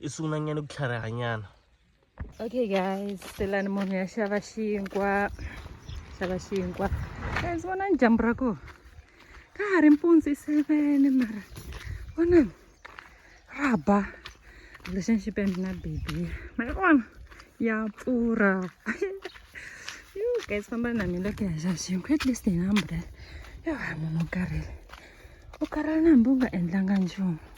i sungulanyana ku tlharihanyana okay guys selani munhu ya xava xinkwa xava xinkwa guys vonani dyambu ra kona ka ha ri mpundzu i seven mara vonani ra ba lexan xi pende na baby ma yi vona ya pfurha yo guys famba na mina ku ya xava xinkwa at least hi na umbrella yo ha munhu u karhele u karhele na hambi u nga endlanga nchumu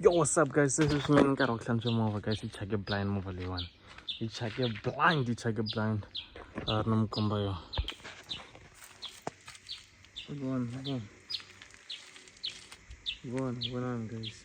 Yo, what's up guys? This is me nkarhi ku hlantswa movha guys, yi chake blind movha leyiwani. Yi chake blind, yi chake blind. A ri na mukomba yo. Vona, vona. Vona, vonani guys.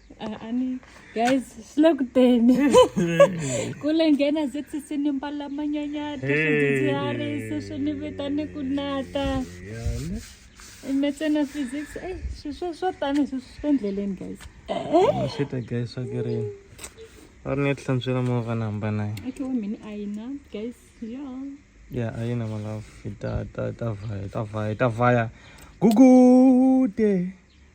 ani guys silokuteni kule nghena ze sisi ni mbala manyanyata swidzidziharisi swi ni vita ni ku nata imetsena physics ey swiswo swo tani swi swi endleleni guys swi ta guys swa kerini va ri ni hlantswela movha ni hamba naye okay wa mina a yi na guys yo ya a yi na malafu ta ta ta vaya ta vaya ta vaya gugude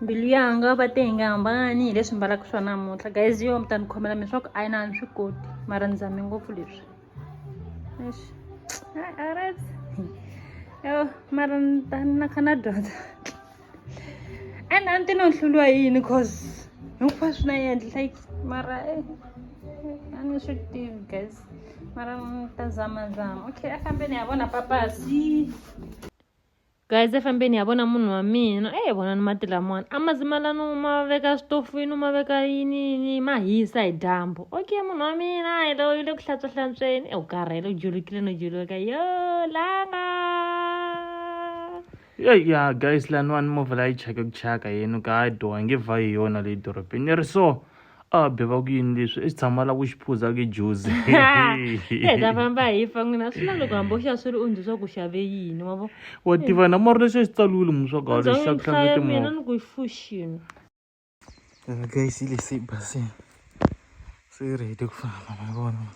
mbilu ya nga va te hi nga hambani hi leswi mbalaka swa namuntlha guys yo mi ta ni khomela mi swa ku a yi na ni swi koti mara ni zame ngopfu leswi arat yo mara ni ta na kha na dyondza and a ni ti no hluriwa hi yini cause hinkwaswo na endli like mara e a ni swi tivi guys mara ni ta zamazama okay a fambeni ya vona papasi guys efambeni ya vona munhu wa mina e eh, vonani mati lamawani a ma zimalani u ma veka switofini u ma veka yiniyini ma hisa hi dyambu okay munhu wa mina hi lo yi le ku hlantswa hlantsweni e eh, u karhele u julukile no juluka yo langa ya ya guys laniwani movha la yi chake ku chaka yenu ka a dyoha nge vha hi yona leyi dorobeni ni ri so a be va ku yini leswi i tshama la ku xi phuza ke juzi e ta famba hi fa n'wina swi na loko hambi u xa swi ri u ndzi swa ku xave yini wa vo wa tiva na mara lexi a xi tsaliwile mu swa galo xa ku hlaya mina ni ku i fushini guys yi lese i basini se yi ready ku famba ma vona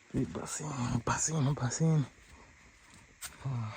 se i basini basini basini ah.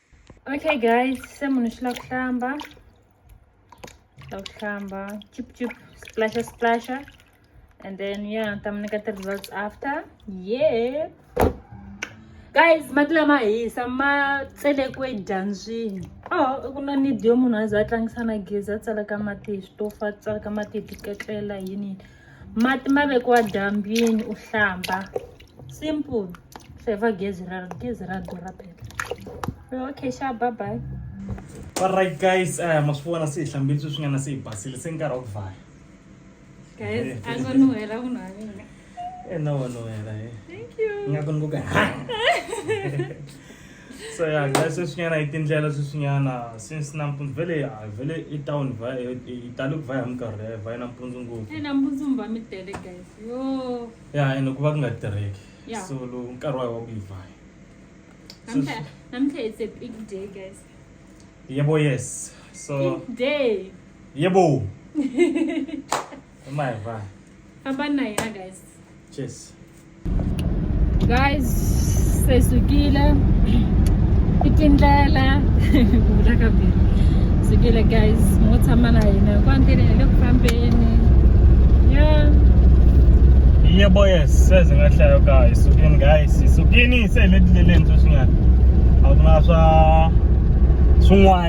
Okay guys, se munhu xi lava ku hlamba la ku hlamba chip chip splasha splasha and then ya ni ta mi nyika ti-results after ye guys mati lama hisa ma tselekwe dyambyini oh ku na nidi yo munhu a za a tlangisa na gezi a tsalaka mati hi switofu a tsalaka mati hi tiketlela yini yini mati ma vekiwa dyambyini u hlamba simple saver gezi ra gezi ra durha phela okay xa bye bye all right guys uh, ma swi vona se hi hlambile sweswi nga na se hi basile se nkarhi wa ku vaya guys a ngo nuhela munhu wa mina e na wa nuhela e nga ku ni ku ka so ya guys sweswinyana hi tindlela sweswinyana since nampundzu vele ya vele i town va hi tale ku va ya minkarhi ya va yi nampundzu ngopfu eh, nampundzu mi va mi tele guys yo ya ene ku va ku nga tirheki so lowu nkarhi wa hi wa ku yi vaya namuntlha it's a big day guys yebo yes so big day yebo ma hi vaya famba na hina guys cheers guys se sukile i tindlela ku vula ka bili sukile guys mo tshama na hina kwa ndleni hi le ku fambeni ya iye boys seze nga hlayo ka hi sukini guys hi sukini se hi le tindleleni sweswinyana a ku na swa swin'wana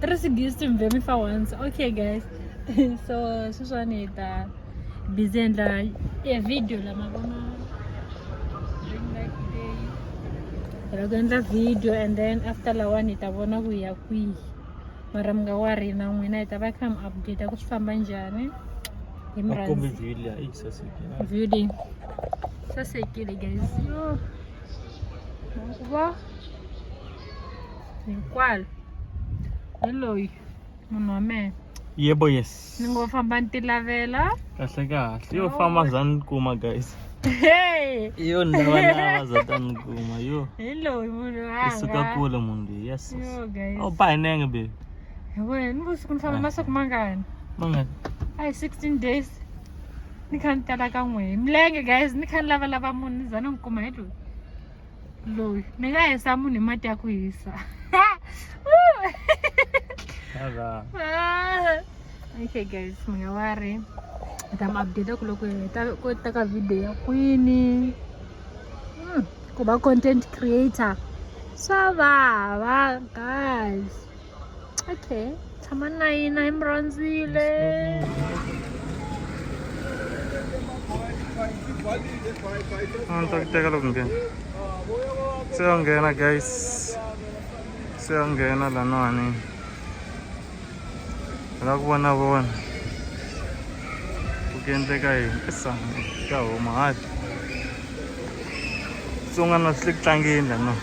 Tracy gives to me for once. Okay, guys. so, sweswiwani hi ta busy endla e video la ma vona ra ku endla video and then after lawani hi ta vona ku ya kwihi mara mi nga wari na n'wina hi ta va kha mi update ku swi famba njhani hi mrview leyi sasekile guys yo va hikwalo hi loyi munhu wa mehe yebo yes ni ngo famba ni tilavela kahle kahle yo famba za ni kuma guys hey yo ni lava lava za ta ni kuma yo hi loyi munhu i suka wanga kule munhu loyi yes yo guys awu ba hi nenge baby hi wena ni vusiku ni famba masiku mangani mangani Ay, 16 days. Ni kha ni tala ka n'we. Milenge guys, ni kha ni lavalava munhu ni za ni n'wi kuma hi loyi. loyi ni nga hisa munhu hi mati ya ku hisa okay guys mi nga wa ri ni ta mi update ku loko hi ta ku ta ka video ya kwini hmm, ku va content creator swa vava guys okay tshama na yina hi mi rhandzile a ni ta ku teka loko nghena se yo nghena guys se yo nghena laniwani hi la ku vona vona ku ku endleka yini i sango ya huma hati tsonga na swi le ku tlangeni laniwani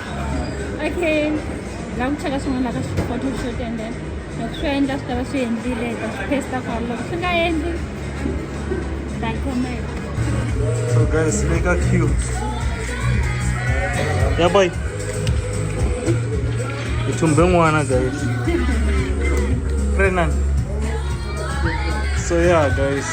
okay la ku cheka swin'wana ka swiphoto swo tendela loko swi endla swi tava swi endlile ta swi pesta kwalo loko swi nga endli ta comment so guys le ka queue ya boy hi thumbe n'wana guys renan so yeah guys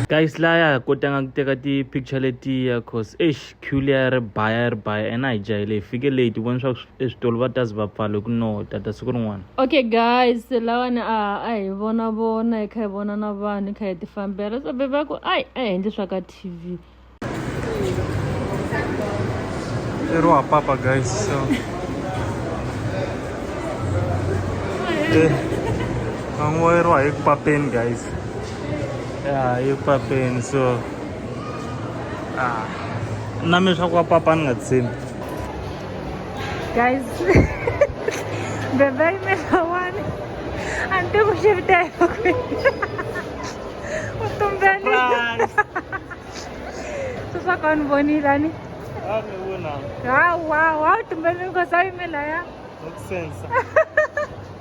guys laya kotanga ku teka ti-picture letiya cause eish queue liya ri baya ri baya and a hi jahele hi fike late vona swa eswitolo va tazi va pfalo ku no tata siku rin'wana okay guys lawani a a hi vona vona hi kha hi vona na vanhu hi kha hi tifambela so bebe ku ai a hi endli swa ka tv ero wa papa guys so van'wa ero wa hi ku papeni guys ya hi ku papeni so ah, na mi swa ku va papa ni nga tshembi guys bebe yimela wani a ni tiku xi vita hi u tumbeni swi swa ka ni vonile ani hawa wa u tumbeni because a yimela ya sense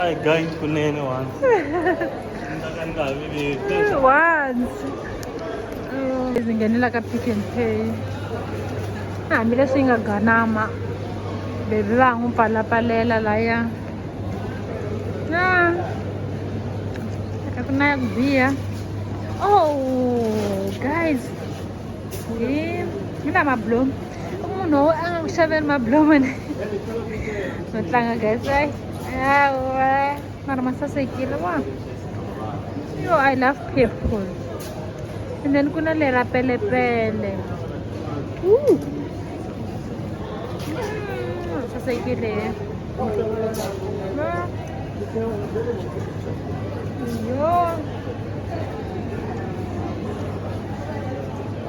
Ay, guys, kunin na once. Once. Zingenela ka pick and pay. Hambi leswi yi nga ganama. Baby va n'wi pfalapalela laya. Ah. Ka ku na ya ku biha. Oh, guys. Hi na mablomu. i munhu wo a nga ku xaveli mablomene no tlanga gatsai awa mara ma sasekile wa yo i love purple and then ku na lera pelepele mm, sasekile yo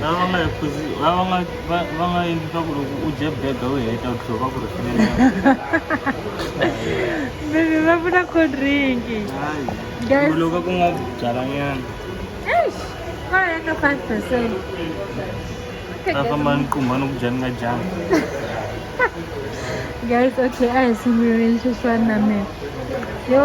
va nga yi phuzi va va nga va va nga endli swa ku loko u dye bega u heta u tlhela va ku rhifilele Baby, va vula cold drink. hayi Guys. tumbuluka ku nga byalanyana Eish, va heta 5%. Okay, ta guys. famba ni qumba ni ku dya ni nga dyanga Guys, okay, a hi sunguleni xiswana na mina. Yo,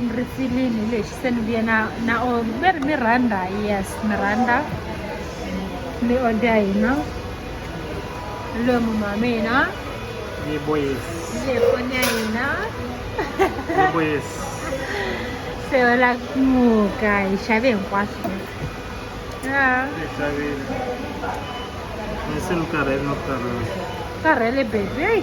ni ri filini lexi se ni vuye na na or ve ri miranda yes miranda ni order hina loyi munhu wa mina ni boyesi le foni ya hina ni boyesi se yo la ku muka hi xave hinkwaswo ya ni xavile ni se ni karhele no karhele karhele baby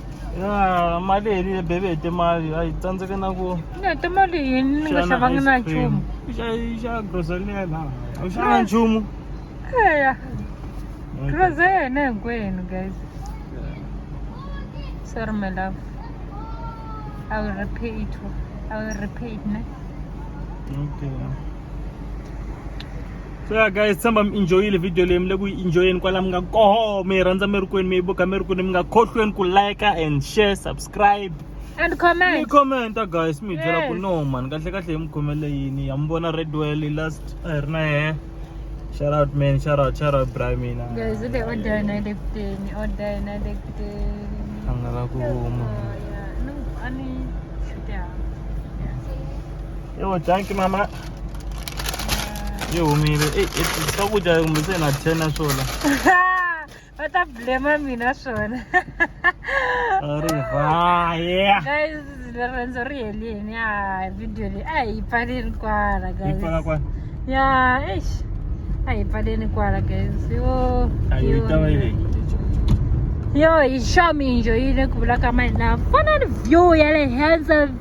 ya mali hi ri bebe hi timali a hi tsandzeke na ku ni hete mali yini ni nga xavangi na nchumu xa grocery leyi na a wu xava nchumu eya grocery yena hinkwenu guys sorry my love i will repay it i will repay it ne okay so ya guys tshemba mi enjoyile video leyi mi le ku yi enjoyeni kwala mi nga koho mi yi rhandza mi ri kwini mi yi buka mi ri kwini mi nga khohlweni ku like and share subscribe and mi comment commenta guys mi hi byela ku Yes. no man kahle kahle hi mi khomele yini ya mi vona redwell last a hi ri na yehe shout out man shout out shout out bra mina guys ule order yena ile kuteni order yena ile kuteni a nga la ku huma Oh, yeah. No, ani shute hapa yo thank you mama yi humile e swakudya kumbe se na ten na swona va ta blema mina swona ri vaya guys riendzo ri helini a video leyi a hi pfaleni kwala guys ya eish a hi pfaleni kwala guys yo yo hi xominjo yi le ku vulaka mali na fanani view ya le henhla